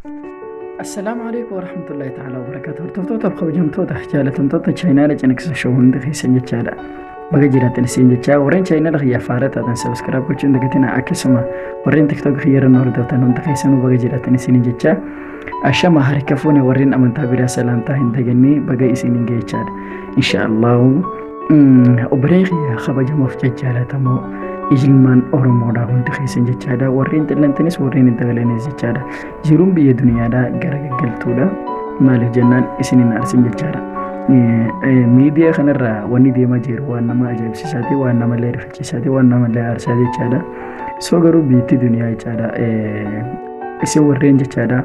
Assalaamu alaikum warahmatullahi ta'ala wabarakatuh. Hordoftoota kabajamtoota jaalatamtoota chaayinaala ciniqsa shoo hundi keessan jechaadha. Baga jiraatan isin jechaa warreen chaayinaala kiyyaa faara taatan sabiskiraab gochuun dagatina akkasuma warreen tiktook kiyya irra nu hordoftan hunda keessanuu baga jiraatan isin jechaa. Ashama harka fuune warreen amantaa biraa salaamtaa hin dagannee baga isin hin geechaadha. Inshaallahu Obbolee kiyya kabajamoof jajjaalatamoo ilmaan Oromoodhaa hundi keessan jechaadha. Warreen xillantanis warreen hin xillantanis jechaadha. Jiruun biyya duniyaadhaa gara gaggaltuudha. Maaliif jennaan isin hin aarsin jechaadha. Miidiyaa kanarraa wanni deemaa jiru waan nama ajaa'ibsiisaati, waan nama illee rifachiisaati, waan nama illee aarsaa jechaadha. Soo garuu biyyattii duniyaa jechaadha. Isin warreen jechaadha.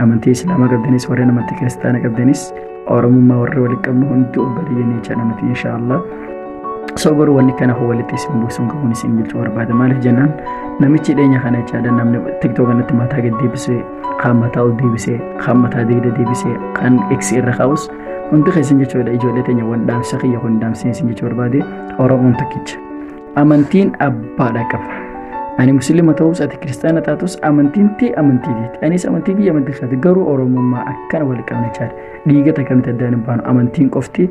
Amantii Islaamaa qabdanis warri namatti kiristaana qabdanis Oromummaa warri walitti qabnu hundi obboleeyyan jecha namatti inshaallah. So garuu wanni kana hoo walitti isin buusuun qabuun isin bulchuu barbaada. Maaliif jennaan namichi dhiyeenya kana jechaadha namni tiktook kanatti mataa gad deebisee kan mataa ol deebisee kan mataa deegda deebisee kan eksi irra kaa'us hundi keessan jechuudha ijoollee teenya waan dhaamsa kiyya kun dhaamsee isin jechuu barbaade Oromoon tokkicha. Amantiin abbaadha qaba. Ani musliima ta'us ati kiristaana taatus amantiin tee amantii keeti. Anis amantii kiyya amantii keeti. Garuu Oromummaa akkana wal qabna caala. Dhiiga takka miti addaan hin baanu. Amantiin qofti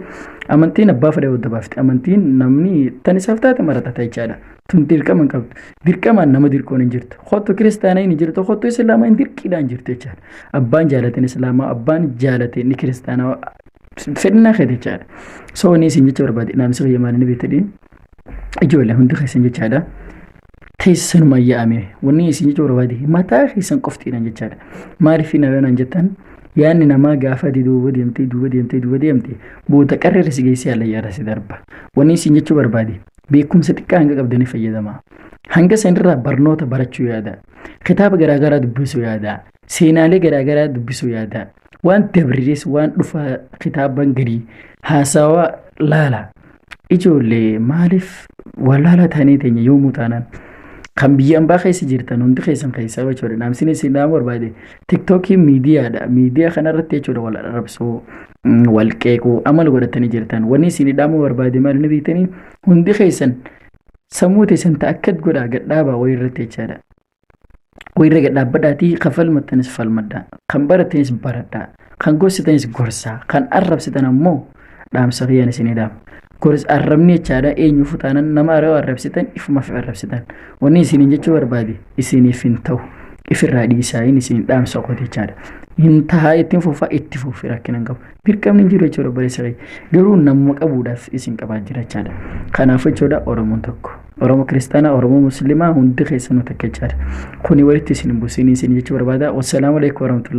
amantiin abbaa fedha wadda baafti. Amantiin namni tan isaaf taate maratata jechaadha. Tun dirqama hin qabdu. Dirqamaan nama dirqoon hin jirtu. Kottu kiristaana hin jirtu. Kottu islaamaa hin dirqiidhaan jirtu jechaadha. Abbaan jaalateen islaamaa abbaan jaalateen ni kiristaanaa fedhinaa keeti jechaadha. So inni isin jecha barbaade naamsi kiyya maal inni beektadhiin? Ijoollee hundi keessan jechaadha. Teessanuma yaa'ame wanni isin jechuu barbaade mataa keessan qoftiidhaan jechaadha. Maaliif hin alanaan jettan yaadni namaa gaafa ati duuba deemtee duuba deemtee duuba deemtee booda qarra irra si geessee ala yaada si darba. Wanni isin jechuu barbaade beekumsa xiqqaa hanga qabdanii fayyadamaa. Hanga sanirraa barnoota barachuu yaada. Kitaaba garaagaraa dubbisuu yaada. Seenaalee garaagaraa dubbisuu yaada. Waan dabriirees waan dhufaa kitaaban gadii haasawaa laala. Ijoollee maaliif wallaalaa taanee teenya yoomuu taanaan kan biyya ambaa keessa jirtan hundi keessan keessaa jechuudha. Naamsin isin dhaamuu barbaade tiktookii miidiyaadha. Miidiyaa kanarratti jechuudha wal arrabsuu wal qeequu amala godhatanii jirtan. Wanni isin dhaamuu barbaade maal inni beektanii hundi keessan sammuu teessan ta'akkat godhaa gadhaabaa wayii irratti jechaadha. Wayirra gad dhaabbadhaatii kan falmattanis falmadhaa. Kan barattanis baradhaa. Kan gorsitanis gorsaa. Kan arrabsitan ammoo dhaamsa kiyyaan isinii dhaama. Gors arrabni jechaadha eenyuufuu taanan nama aroo arrabsitan ifumaaf arrabsitan. Wanni isiniin jechuu barbaade isiniif hin ta'u. Ifirraa dhiisaa hin isiniin dhaamsa qote jechaadha. Hin tahaa ittiin fufaa itti fufi rakkina hin qabu. Dirqamni hin jiru jechuudha barreessa kiyya. Garuu namuma qabuudhaaf isin qabaa jira jechaadha. Kanaaf jechuudha Oromoon tokko. Oromo Kiristana Oromo Muslima hundi keessanu takka jechaadha. Kuni walitti isin hin busin isin jechuu barbaada. Wassalamu alaikum warahmatullahi.